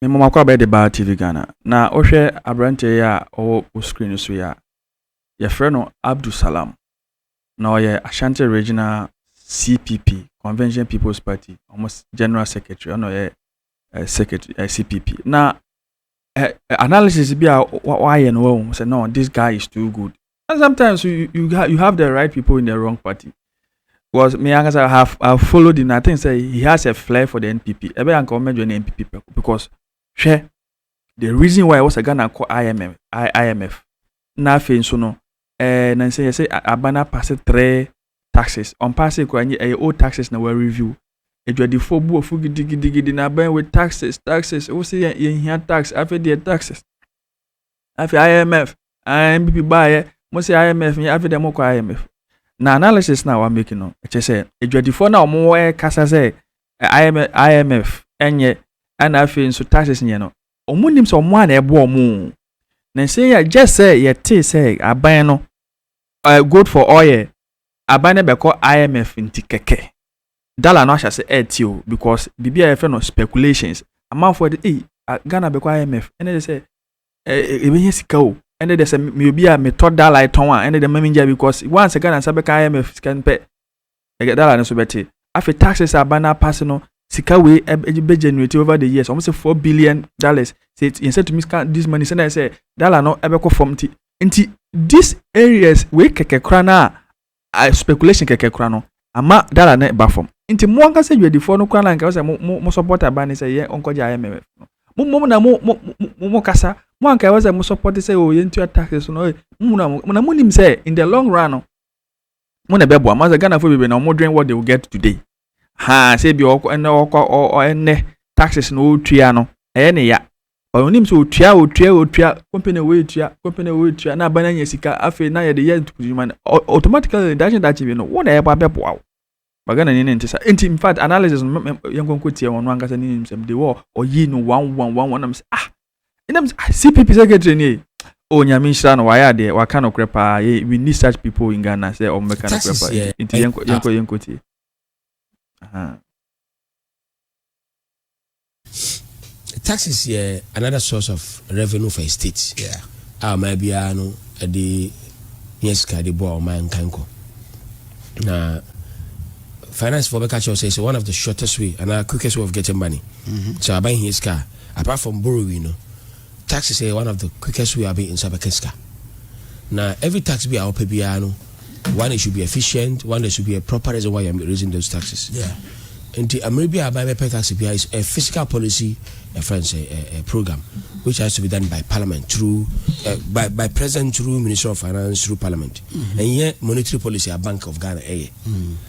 Me mma mako abɛyɛ de baa TV Ghana. Na wohwɛ aberanteɛ yi a ɔwɔ wo screen no so yi a, yɛfrɛ no Abdul Salam. Na ɔyɛ Ashanti Regional CPP, Convention People's Party, wɔn General Secretary, ɔna ɔyɛ eh, Secretary eh, CPP. Na eh, eh, analysis bi a wayɛ no wahu sɛ no, this guy is too good. And sometimes you, you, ha, you have the right people in the wrong party. Because me ankasa I have, I have followed him. I think say he has a flair for the NPP. Ebe anka o mejo na NPP peko because she the reason why I was a Ghana call IMF, I, IMF. Na afei nso no eh na nsɛ yɛsɛ abana pass three taxes. On pass kura nye eh old taxes na we review. Adwadifo bu ofu gidigidigidi na aban with taxes, taxes. Wo se yɛn yɛn hia tax, afei deɛ taxes. afei imf ɛɛ npp baayɛ mo sɛ imf yɛ afei dɛ mo kɔ imf na analysis na wa make no ɛkyɛ sɛ adwadifoɔ na wɔn wɔ ɛkasa sɛ imf ɛnyɛ ɛna afei nso taxes nyɛ no wɔn nim sɛ wɔn a na ɛbɔ wɔn na nsɛn yɛ gyɛ sɛ yɛte sɛ aban no ɛɛ good for oil aban no bɛkɔ imf nti kɛkɛ dollar no ahyɛ sɛ ɛɛte o because biribi a yɛfɛ no speculations amanfoɔ de ei ghana bɛkɔ imf ɛna ɛde sɛ ɛbɛnya sika o ɛne deɛ sɛ meyɛ obi a metɔ dala tɔn a ɛne deɛ mami gya because once Ghana nsa bɛka IMF sika no pɛ ɛgɛ dala no so bɛte afei taxes a aba no apase no sika wei ɛbɛ generate over the years wɔn sɛ four billion dollars sɛ yɛn sɛ tumi scan this money sɛ na yɛ sɛ dala no ɛbɛkɔ fam ti nti these areas wei kɛkɛ kora no a Ayɛ speculation kɛkɛ koraa no ama dala no ba fam nti mo ankasa dwadifoɔ no koraa na nka sɛ mo mo support aban no sɛ yɛ ɔnkɔgye IMF no mo mmom na mo mo mo mo kasa mo anka ɛwɔ sɛ mo support sɛ o yɛntua taxes no mo mu na mo na mo nim sɛ in the long run no mo na ɛbɛboa mo asɛ Ghanafoɔ bebree na wɔn dwen what they will get today haa sɛ bi ɔkɔ ɛnɛ ɔkɔ ɛnɛ taxes na ɔretua no ɛyɛ ne ya ɔnim sɛ ɔtua ɔtua ɔtua company wɔ ɛtua company wɔ ɛtua na abana nya sika afei na yɛde yɛ ntukudwuma no automatically dakye dakye bi no wo na ɛbɔ abɛboa wo bagana ni ne nte sa nti in fact analysis no yɛnkɔnkɔ tia wɔn no ankasa ne nim sɛm de wɔ ɔyi no wɔn wɔn wɔn wɔn nam sɛ ah ɛna mi sɛ ah cpp secretary nie oh nyame nhyira no wayɛ adeɛ waka nokorɛ paa yɛ we need such people in ghana sɛ ɔmo bɛka That nokorɛ is paa yɛ- nti nti yɛnkɔ yɛnkɔ yɛnkɔ tie Aha. taxes yɛ another source of revenue for a state Yeah. a ɔman biara no de yɛ sika de bɔ ɔman nkan kɔ na finance fo bɛka kyerɛ wo sɛ it's one of the shortest way anaa quickest way of getting money sɛ aban hia sika a Apart from borrowing no, taxes yɛ one of the quickest way a wobɛyi nsa bɛka sika. Na every tax bi a wopɛ biara no, one it should be efficient, one there should be a proper reason why you are raising those taxes. Nti mmerɛ bi a aban bɛpɛ tax biara is a fiscal policy a friends a, a, a program which has to be done by parliament through uh, by, by president through minister of finance through parliament. Mm-hmm. Ɛnyɛ monetary policy a Bank of Ghana ɛyɛ. Mm.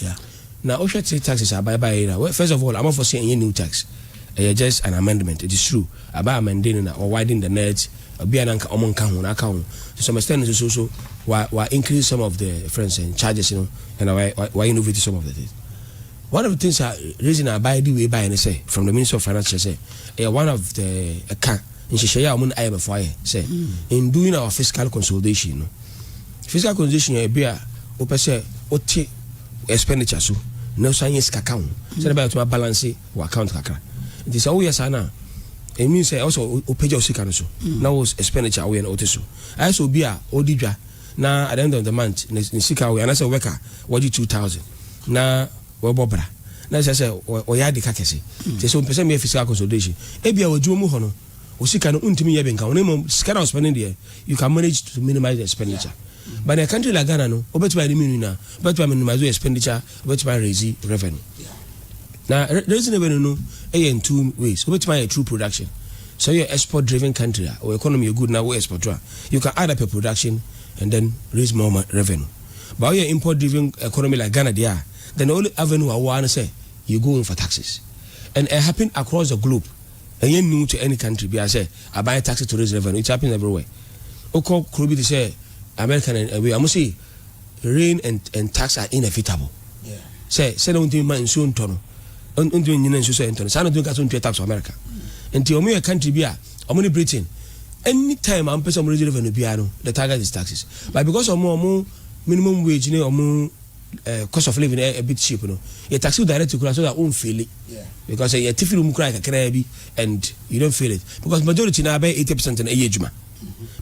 Yeah. Na wohwɛ three taxes a abae baeɛ no a, first of all, amanfoɔ se ɛnyɛ new tax, ɛyɛ just an amendment. It is true, abae amende no na wa widen the net, obi a na anka wɔn nka ho na aka ho. To some extent nso so, so wa wa increase some of the yɛfrɛ no sɛn charges no ɛna wa wa wa innovate some of the things. One of the things a reason a abae de wei baeɛ no sɛ from the Ministry of Finance kyerɛ sɛ ɛyɛ one of the ɛka nhyehyɛeɛ a wɔn ne IMF ayɛ sɛ in doing our fiscal consolidation no Physical condition yɛ ebi a wopɛ sɛ wote expenditure so na wosan yɛ sika ka ho sɛdeɛ ɛbɛyɛ wotumi abalanse wɔ account kakra nti sɛ woyɛ saa no a ɛmi sɛ ɛwɔ sɛ wopagya wo sika no so na wo expenditure a woyɛ no wote so ayɛ sɛ obi a ɔdi dwa na at the end of the month ne sika woyɛ anasɛ wobɛka a wɔgye 2000 na wɔbɔ bra na ɛsɛ sɛ ɔyɛ ade ka kɛse nti sɛ ɔmpɛ sɛ meyɛ physical consolidation ebia wɔ adwuma mu hɔ no wo sika no wontumi nyɛ hwee nka ho na mmom sika no a wospɛne deɛ you can manage to minimize the expenditure but in a country like Ghana no wobɛtumi ayɛ ne mmienu nyinaa wobɛtumi a minimize your expenditure wobɛtumi a raise revenue na raising revenue no ɛyɛ in two ways wobɛtumi ayɛ through production sɛ woyɛ export driven country a wo economy yɛ good na wo export a you can add up a production and then raise more revenue but woyɛ import driven economy like Ghana deɛ a then the only avenue a woa no sɛ you go in for taxes and it happen across the globe Ɛnyɛ new to any country biara sɛ aban tax tourist revenue, it happens everywhere. Wokɔ kuro bi te sɛ America ne ɛwei a, wɔn se rain and and tax are inevitable. Sɛ sɛdeɛ wɔntumi ma nsuo ntɔ no, wɔntumi nyina nsuo sɛ ɛntɔ no, saa na wɔntumi ka sɛ wɔntua tax wɔ America. Nti wɔn yɛ country bi a, wɔn ne Britain, any time a wɔpɛ sɛ wɔn raise revenue biara no, the target is taxes. But because wɔn wɔn minimum wage ne wɔn eh, cost of living eh, a bit cheap no yɛ taxi wo direct kura so that won't feel it because eh, yɛ tifi no mu kura kakraa bi and you don't feel it because majority na abɛyɛ 80 percent na ɛyɛ adwuma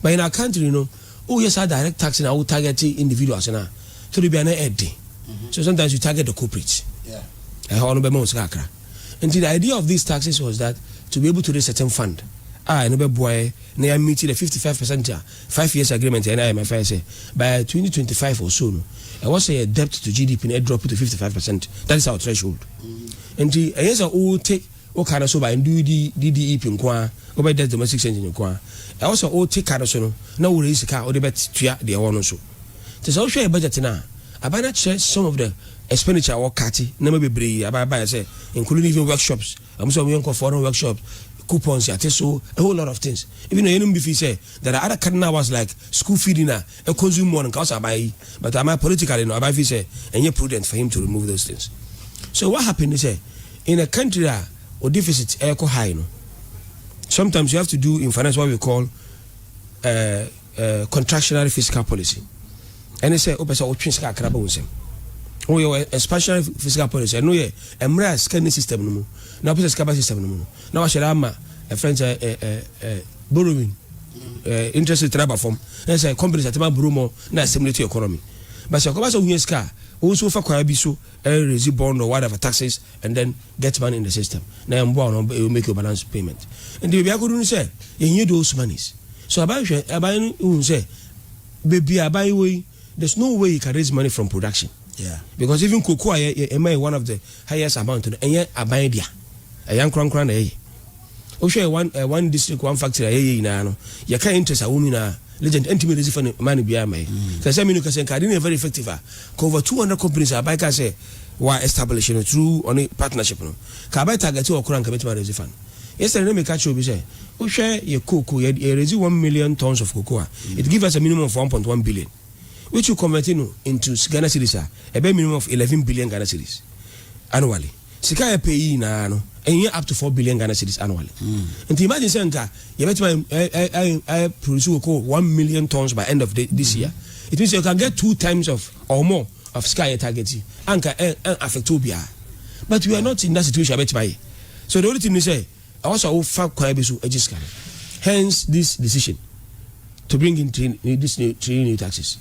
but in our country you know oh yes our direct taxi na wo target individuals na so de bi ana ɛden so sometimes you target the corporate ɛhɔ eh, no bɛma wo sika kakra nti the idea of these taxes was that to be able to raise certain fund a ɛno bɛboa yɛ na yɛamiti the 55 percent a Five years agreement a NIMF ayɛ sɛ by twenty twenty five or so no ɛwɔ sɛ yɛ debt to GDP no drop to fifty five percent that is our threshold nti ɛnyɛ sɛ wo te wo ka no so by ndu di di DEP nko ara wo bɛ debt domestic spending nko ara ɛwɔ sɛ wo te ka no so no na wo raise sika a wode bɛ tua deɛ ɛwɔ no nso nti sɛ wohwɛ yɛ budget no a aban no akyerɛ some of the expenditure a wɔ cut nneɛma bebree aban aban sɛ including even workshops Ɔmo sɛ ɔmo yɛ nkɔ foreign workshops, coupons yɛate so, a whole lot of things. Even na yɛnom bi fii sɛ there are other cardinal ones like school feeding a ɛ consume more no nka ɔsɛ aban yi. But ama politically no aban fii sɛ ɛnyɛ prudent for him to remove those things. So what happened ne sɛ in a country a wo deficit ɛɛkɔ high no sometimes you have to do in finance what we call eh, eh, contractionary fiscal policy. ɛne sɛ wopɛ sɛ wotwe sika kakra ba wo nsam woyɛ wɔ expansionary fiscal policy ɛno yɛ mmerɛ a sika ni system no mu na wopɛ sɛ sika ba system no mu no na wahyɛ dɛ ama ɛfrɛ n sɛ borrowing interest rate no aba fam ɛne sɛ companies atema borrow mɔ na assimilate to economy but sɛ ɛkɔba sɛ wohia sika a wo nso wofa kwaa bi so raise bond or whatever taxes and then get money in the system na ɛmboa no you make your balance payment nti baabi akɔdu no sɛ yɛnyɛ those monies so aban hwɛ aban no hu sɛ Baby a abayi wɔ yi there's no way you can raise money from production yeah because even koko a yɛ yɛ ɛma yɛ one of the highest amount no ɛnyɛ aban dea ɛyɛ ankorankora na yɛyɛ wohwɛ yɛ one uh, one district one factory a yɛyɛ nyinaa no yɛka interest awɔ mu nyinaa legend ɛntumi resi fa ne ma ne biara ma yɛ mm. sɛ sɛ menu kɛsɛ nka ade no yɛ very effective a ka over 200 companies a aban ka sɛ wa establish no through ɔne partnership no ka abɛ target wɔ kora nka bɛtumi aresi fa no Yesterday na meka kyerɛ obi sɛ wohwɛ yɛ cocoa yɛ yɛ raise one million tons of cocoa a it give us a minimum of one point one billion which you convert no into Ghana cedis a ɛbɛyɛ minimum of eleven billion Ghana cedis annually sika a yɛpɛ yi nyinaa no ɛnyɛ up to four billion Ghana cedis annually nti imagine sɛ nka yɛbɛtumi ayɛ produce cocoa one million tons by end of the, this year it means you can get two times of or more of sika a yɛ target yi anka ɛn affect obiara but we are not in that situation a bɛtumi ayɛ So the only thing ne sɛ ɛwɔ sɛ wo fa kwan bi so gye sika no? Hence this decision to bring in three new this new three new taxes.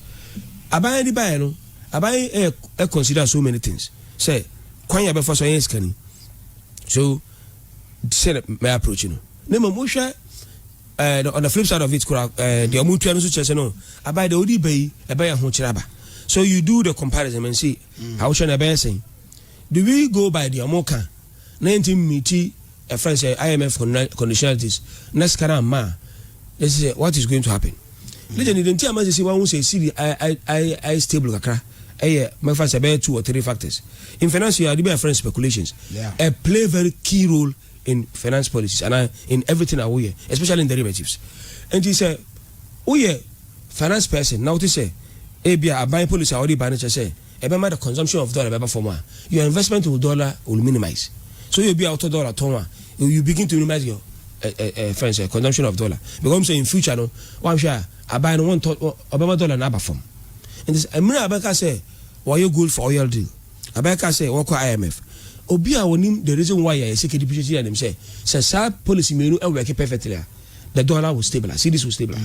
Aban de baeɛ no, aban yi ɛyɛ ɛ consider so many things sɛ kwan yɛ bɛfa so ɛyɛ sika ni. So sɛ na mɛ approach no. Ne mmom wohwɛ eh, the, on the flip side of it kora eh, deɛ ɔmo tua no so kyerɛ sɛ no aban deɛ ɔde ba yi ɛbɛyɛ ho kyerɛ aba. So you do the comparison and see ahokyerɛ na ɛbɛyɛ sɛn. Do we go by deɛ ɔmo ka na yɛnti mmiti ɛfrɛ no sɛ IMF conditionalities na sika no amma a then sɛ what is going to happen? Legend deɛ nti ama sɛsɛ wahu sɛ cedi ayɛ stable kakra ɛyɛ mɛfa sɛ ɛbɛyɛ two or three factors in finance yɛ ade bi a yɛfrɛ no speculations ɛ play very key role in finance policies anaa in everything a woyɛ especially in derivatives nti sɛ woyɛ finance person na wote sɛ ebi a aban policy a wɔde ba no kyerɛ sɛ ɛbɛma the consumption of dollar bɛba fam a, your investment in dollar will minimize. Sɛ woyɛ obi a wotɔ dollar tɔn a, you begin to minimize your eh, friend sɛ consumption of dollar because wɔn sɛ in future no wɔanhwɛ a aban no wɔntɔ ɔbɛma dollar no aba fam nti mmerɛ a bɛka sɛ wɔyɛ gold for oil deal abɛka sɛ wɔkɔ IMF obi a wɔnim the reason why yɛ sika depreciation yɛ nim sɛ sɛ saa policy mmienu ɛwɛke perfectly a the dollar will stabilize cedis will stabilize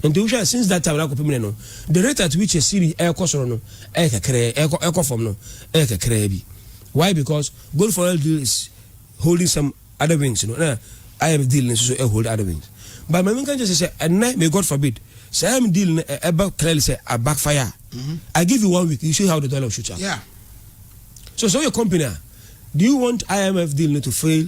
nti wohwɛ since that time akɔpem ne no the rate at which a cedi ɛkɔ soro no ɛyɛ kakraa ɛkɔ ɛkɔ fam no ɛyɛ kakraa bi why because gold for oil deal is holding some other wings no na imf deal no nso ɛhold other wings but maame nka kyerɛ sɛ ɛnɛ may god forbid sɛ imf deal no ɛba clearly sɛ a backfire mm-hmm. i give you one week you see how the dollar shoot up yeah. so so your company do you want imf deal no to fail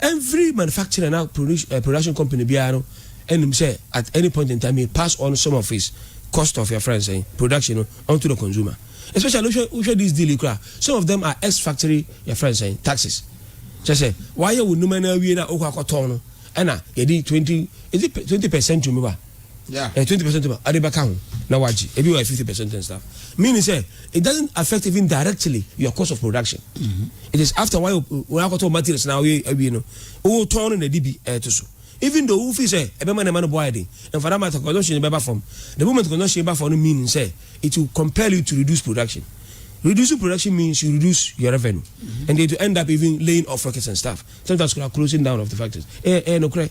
Every manufacturer na production company biara no nim sɛ at any point in time he pass on some of his cost of yɛfrɛ no sɛn production no onto the consumer especially wohwɛ wohwɛ this deal yi koraa some of them are ex factory yɛfrɛ no sɛn taxes kyerɛ sɛ wayɛ wo nnuma no awie no a wokɔ akɔtɔn no ɛna yɛde twenty is it twenty percent to me ba. Ɛyɛ twenty percent ma ade bɛka ho na wagye. Ebi wɔ yɛ fifty percent and stuff. Meaning sɛ it doesn't affect even directly your cost of production. It is after why wɔn akɔtɔ materials na wɔyɛ awie no, wotɔn no na ɛde bi ɛto so. Even though wofi sɛ ɛbɛma nneɛma no bo ayɛ den, and for that matter consumption bɛba fam. The moment consumption ba fam no meaning sɛ it will compel you to reduce production. Reducing production means you reduce your revenue and then to end up even laying off workers and stuff. Sometimes koraa closing down of the factories. Ɛyɛ ɛyɛ nokorɛ.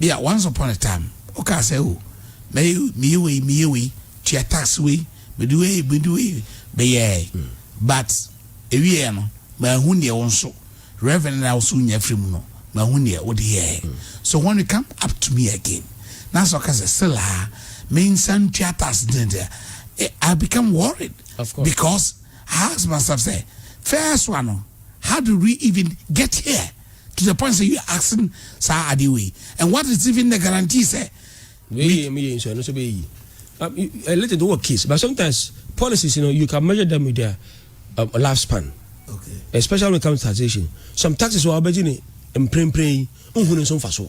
Bi a, once upon a time, wokaa sɛ, Oh, mɛyɛ, meyɛ wei, meyɛ wei, tua tax wei, mede wei, mede wei bɛyɛɛ. But, ɛwieɛ no, manhu deɛ wo nso, Reverend no a wo nso wonya firii mu no, manhu deɛ wode yɛɛ. So when you come up to me again, na sɛ woka sɛ, still a, mensan ntua tax nti, I become worried. Because, I ask myself sɛ, first one no, how did we even get here? to the point sɛ you are asking saa adeɛ wei and what is even the guarantee sɛ. wei mu yɛ nsu ɛno nso bɛyɛ yi a little to work case but sometimes policies you know you can measure them with their um, life span okay. especially when it comes to taxation some taxes wɔ abɛgye ne mprempren yi nhunu nso mfa so.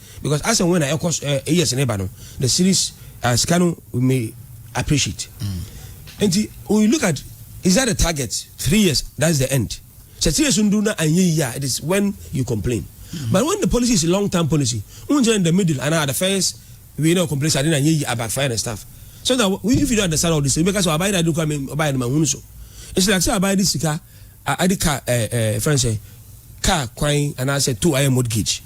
because as and when na ɛkɔ eh, eh, years na ɛba no the series uh, sika no may appreciate mm. nti when you look at is that the target three years that's the end sɛ three years n duru na anyɛ yie a it is when you complain mm. but when the policy is long term policy n n jẹ in the middle and at the first we no complain sadi na anyɛ yie about fire and stuff so that if you don't understand all this you make us so abayɛ na adi kura mi ɔbayɛ no ma hun so it's like say abayɛ di sika. A ade car eh eh yɛfrɛ no sɛn car kwan anaa sɛ tow ayɛ mortgage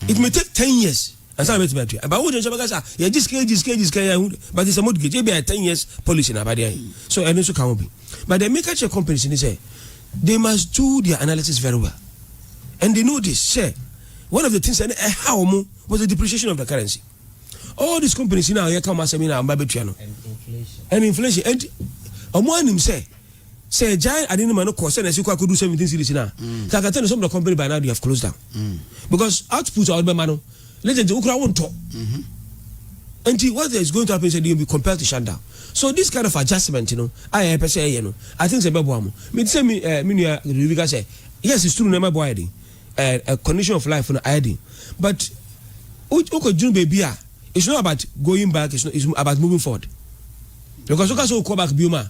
it may take ten years ansa na bɛtumi atua ɛba wo de nso bɛka sɛ ah, yɛgye sika yɛgye sika yɛgye sika yɛ ahu but it's a mortgage ebi ayɛ ten years policy na abade ayɛ so ɛno nso ka ho bi but deɛ meka kyerɛ companies ni sɛ they must do their analysis very well and they know this sɛ one of the things ɛne ɛha wɔn was the depreciation of the currency all these companies now yɛka wɔn asɛm yi na wɔn ba bɛtua no and inflation and wɔn anim sɛ Sɛ egyae ade no ma no kɔ sɛnea ɛsi kɔ akodu seventeen series no a, then I can tell you some of the company by now they have closed down because output a wɔde bɛma no legend wo koraa wontɔ. Nti what is going to happen sɛ they will be compelled to shut down. So this kind of adjustment no a yɛpɛ sɛ yɛyɛ no, I think sɛ ɛbɛboa mo. Mete sɛ me eh, me nua Ruby ka sɛ yes it's true nneɛma bɔ ayɛ den, eh, eh, condition of life no ayɛ den but wo- wokɔdwene baabi a it's not about going back, it's, not, it's about moving forward. Because woka sɛ wokɔ back biom a